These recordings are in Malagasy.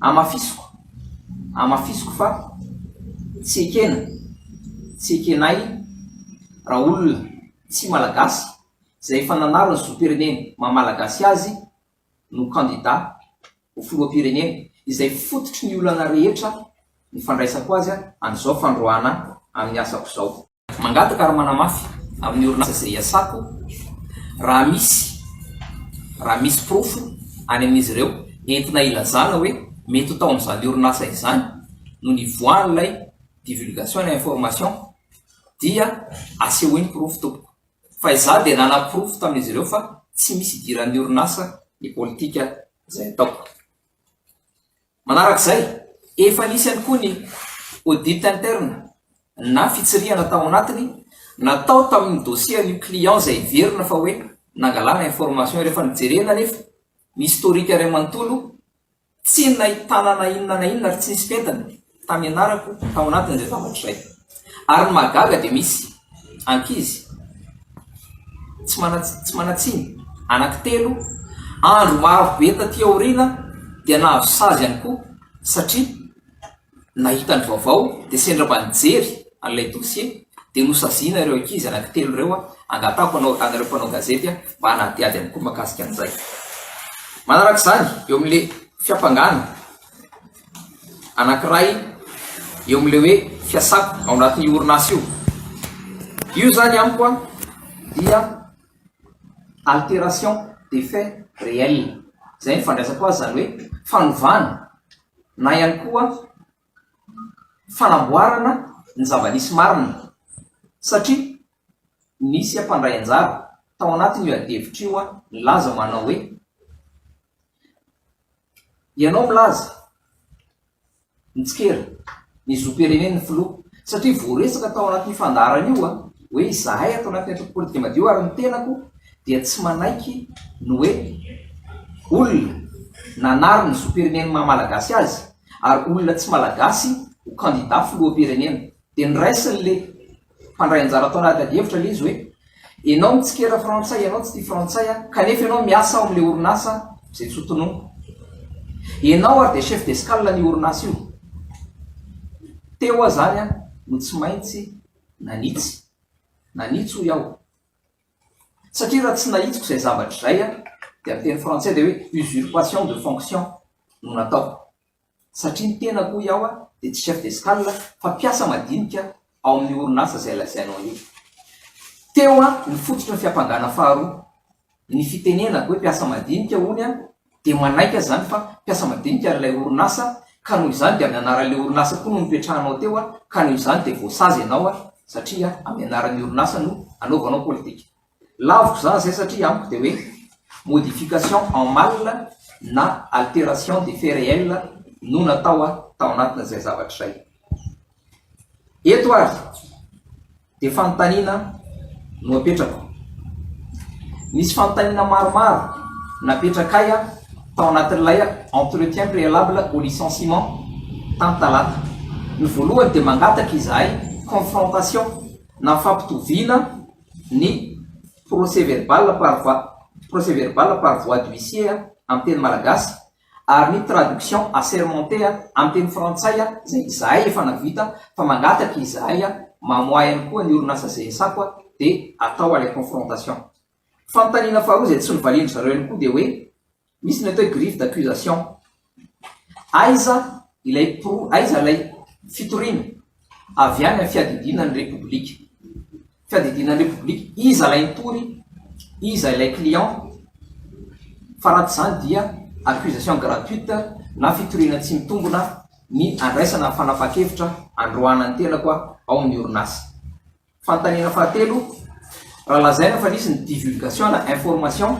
Hamafisiko, hamafisiko fa tsy ekena, tsy ekenay raolona tsy malagasy izay efa nanary ny zom-pireneny maha malagasy azy no kandida ho filoham-pirenena izay fototry ny olana rehetra ny fandraisako azy an'izao fandroahana amin'ny asako izao. Mangataka ary manamafy amin'ny orinasa izay iasako raha misy raha misy porofo any amin'izy ireo entina ilazana hoe mety ho tao amin'izany orinasa izany no nivoahan'ilay divulgation na information dia asehoy ny porofo tompoko fa izaho dia nanaporofo tamin'izy ireo fa tsy misy idiran'ny orinasa ny politika izay ataoko. Manarak'izay, efa nisy ihany koa ny audit interne na fitsirihana tao anatiny natao tamin'ny dossier an'io client izay heverina fa hoe nangalana information rehefa nojerena anefa ny historique iray manontolo tsy nahitana na inona na inona ary tsy nisy fentiny tamianarako tao anatin'izay zavatra izay. Ary ny mahagaga dia misy ankizy tsy tsy manan-tsiny anaky telo andro maro be taty aoriana dia nahazo sazy ihany koa satria nahita ny vaovao dia sendra mba nijery an'ilay dossier dia nosaziana ireo ankizy anaky telo ireo a angatahako anao anareo mpanao gazety a mba hanadihady amiko makasika an'izay manaraka izany eo amin'le fiampangana anankiray eo amin'ilay hoe fiasako ao anatin'ny orinasa io. Io zany amiko an dia alteration de fait réel. Izay ny fandraisako azy zany hoe fanovana na ihany koa fanamboarana ny zava-nisy marina satria nisy mpandray anjara tao anatin'io adihevitra io an nilaza manao hoe. Ianao milaza, mitsikera, ny zom-pirenen'ny filoha, satria voaresaka tao anatin'io fandaharana io hoe izahay ato anatin'ny antoko politika madio ary ny tenako dia tsy manaiky ny hoe olona nanary ny zom-pirenen'ny maha-malagasy azy ary olona tsy malagasy ho kandida filoham-pirenena. Dia niraisin'ilay mpandray anjara tao anaty adihevitra ilay izy hoe, Ianao mitsikera frantsay, ianao tsy tia frantsay aho, kanefa ianao miasa ao amin'ilay orinasa izay tsy ho tononiko. Ianao ary dia chef d'escale an'io orinasa io. Teo aho izany an, no tsy maintsy nanitsy. Nanitsy hoy aho. Satria raha tsy nahitsiko izay zavatra izay an, dia amin'ny teny frantsay dia hoe usurpation de fonction no nataoko. satria ny tenako hoy aho dia tsy chef d'escale fa mpiasa madinika ao amin'ny orinasa izay lazainao io. Teo ny fototry ny fiampangana faharoa. Ny fitenenako hoe mpiasa madinika hono aho dia manaiky aza izany fa mpiasa madinika ilay orinasa ka noho izany dia amin'ny anaran'ilay orinasa koa no nipetrahanao teo ka noho izany dia voasazy ianao satria amin'ny anaran'ny orinasa no anaovanao politika. Laviko izany izay satria amiko dia hoe modification en mal na alteration des faits réels no natao tao anatin'izay zavatra izay. Eto ary dia fanontaniana no apetrako. Misy fanontaniana maromaro napetrakay tao anatin'ilay entretien préalable au licenciement tamin'ny talata. Ny voalohany dia mangataka izahay confrontation na fampitoviana ny procès verbal par voie procès verbal par voie d'huissier amin'ny teny malagasy ary ny traduction assermentée amin'ny teny frantsay izay izahay efa nahavita fa mangataka izahay mamoahy ihany koa ny orinasa GSA koa dia atao ilay confrontation. Fanontaniana faharoa izay tsy novalian-dry zareo ihany koa dia hoe Misy ny atao hoe griffe d'accusation. Aiza ilay pro, aiza ilay fitoriana avy any amin'ny fiadidiana ny Repoblika? Fiadidiana ny Repoblika, iza ilay nitory, iza ilay client? Fa raha tsy izany dia accusation gratuite na fitoriana tsy mitombona ny andraisana fanapahan-kevitra androahana ny tenako ao amin'ny orinasa. Fanontaniana fahatelo, Raha lazaina fa nisy ny divulgation na information,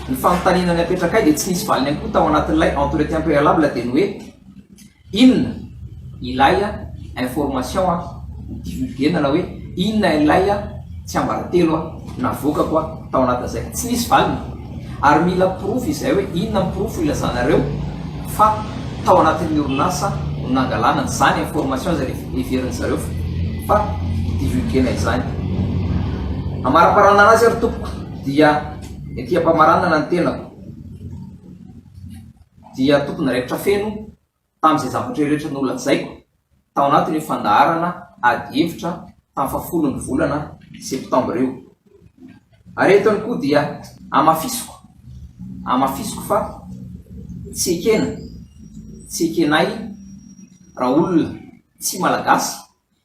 ny fanontaniana niapetrakay dia tsy nisy valiny ihany koa tao anatin'ilay entretien préalable dia ny hoe, inona ilay information nodivulguena na hoe inona ilay tsiambaratelo navoakako tao anatin'izay? Tsy nisy valiny. Ary mila porofo izay hoe inona ny porofo ilazanareo fa tao anatin'ny orinasa no nangalana an'izany information izay heverin'ny zareo fa ho divulguena izany. Amaraparanana azy ary tompoko dia ety ampamaranana ny tenako dia tompony raikitra feno Tamin'izay zavatra rehetra nolazaiko tao anatin'io fandaharana ady hevitra tamin'ny fahafolon'ny volana Septambra io. Ary eto ihany koa dia hamafisiko, hamafisiko fa tsy ekena, tsy ekenay raha olona tsy Malagasy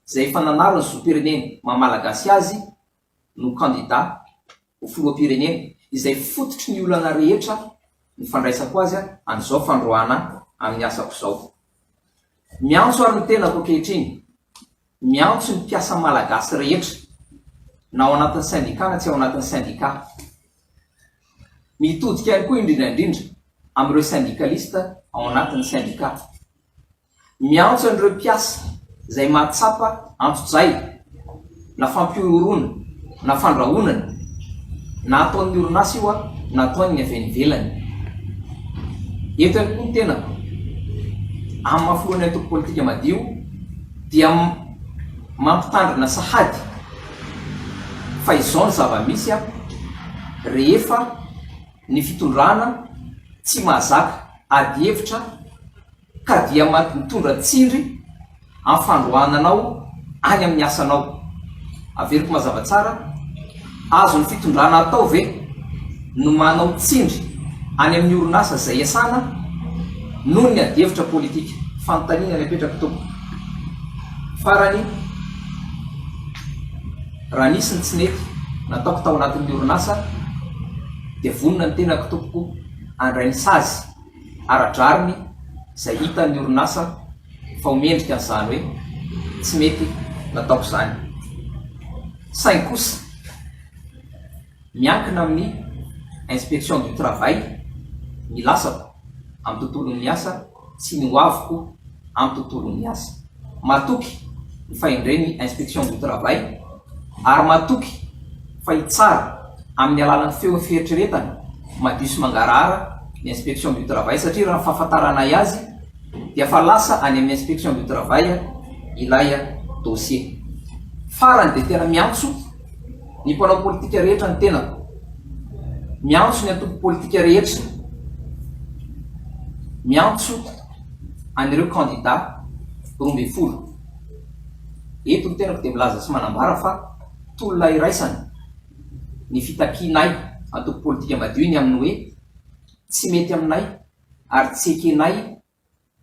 izay efa nanary ny zom-pireneny maha-Malagasy azy no kandida ho filoham-pirenena, izay fototry ny olana rehetra ny fandraisako azy amin'izao fandroahana amin'ny asako izao. Miantso ary ny tenako ankehitriny, miantso ny mpiasa malagasy rehetra, na ao anatin'ny sendika na tsy ao anatin'ny sendika. Mitodika ihany koa indrindra indrindra amin'ireo sendikalista ao anatin'ny sendika. Miantso an'ireo mpiasa izay mahatsapa antojay na fampihorohoroana na fandrahonana na ataon'ny orinasa io aho na ataon'ny avy any ivelany. Eto ihany koa ny tenako, amin'ny maha filohan'ny antoko politika Madio dia mampitandrina sahady fa izao ny zava-misy a! rehefa ny fitondrana tsy mahazaka ady hevitra, ka dia mety mitondra tsindry amin'ny fandroahana anao any amin'ny asanao. Averiko mazava tsara, azon'ny fitondrana atao ve ny manao tsindry any amin'ny orinasa izay iasana noho ny adihevitra politika? Fanontaniana ny apetrako tompoko. Farany, raha nisy ny tsy nety nataoko tao anatin'ny orinasa dia vonona ny tenako tompoko handray ny sazy. ara-drariny izay hitan'ny orinasa fa ho mendrika an'izany hoe tsy mety nataoko izany. Saingy kosa, miankina amin'ny Inspection du Travail ny lasako amin'ny tontolon'ny asa sy ny hoaviko amin'ny tontolon'ny asa. matoky fa indray ny Inspection du Travail ary matoky fa hitsara amin'ny alalan'ny feon'ny fieritreretana madio sy mangarahara ny Inspection du Travail satria raha ny fahafantaranay azy dia efa lasa any amin'ny Inspection du Travail ilay dossier. Farany dia tena miantso ny mpanao politika rehetra ny tenako, miantso ny antoko politika rehetra, miantso. an'ireo kandida roa ambin'ny folo. Eto ny tenako dia milaza sy manambara fa tolona iraisana ny fitakianay antoko politika madio ny amin'ny hoe tsy mety aminay ary tsy ekenay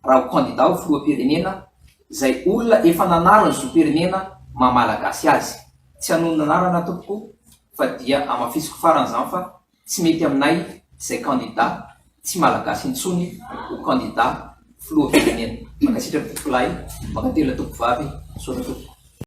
raha ho kandida ho filoham-pirenena izay olona efa nanara ny zom-pirenena maha malagasy azy. Tsy hanonona anarana tompoko fa dia hamafisiko farany izany fa. Tsy mety aminay izay kandida tsy malagasy intsony ho kandida filoha firenena. Mankasitraka tompokolahy, mankatelina tompokovavy, misaotra tompoko.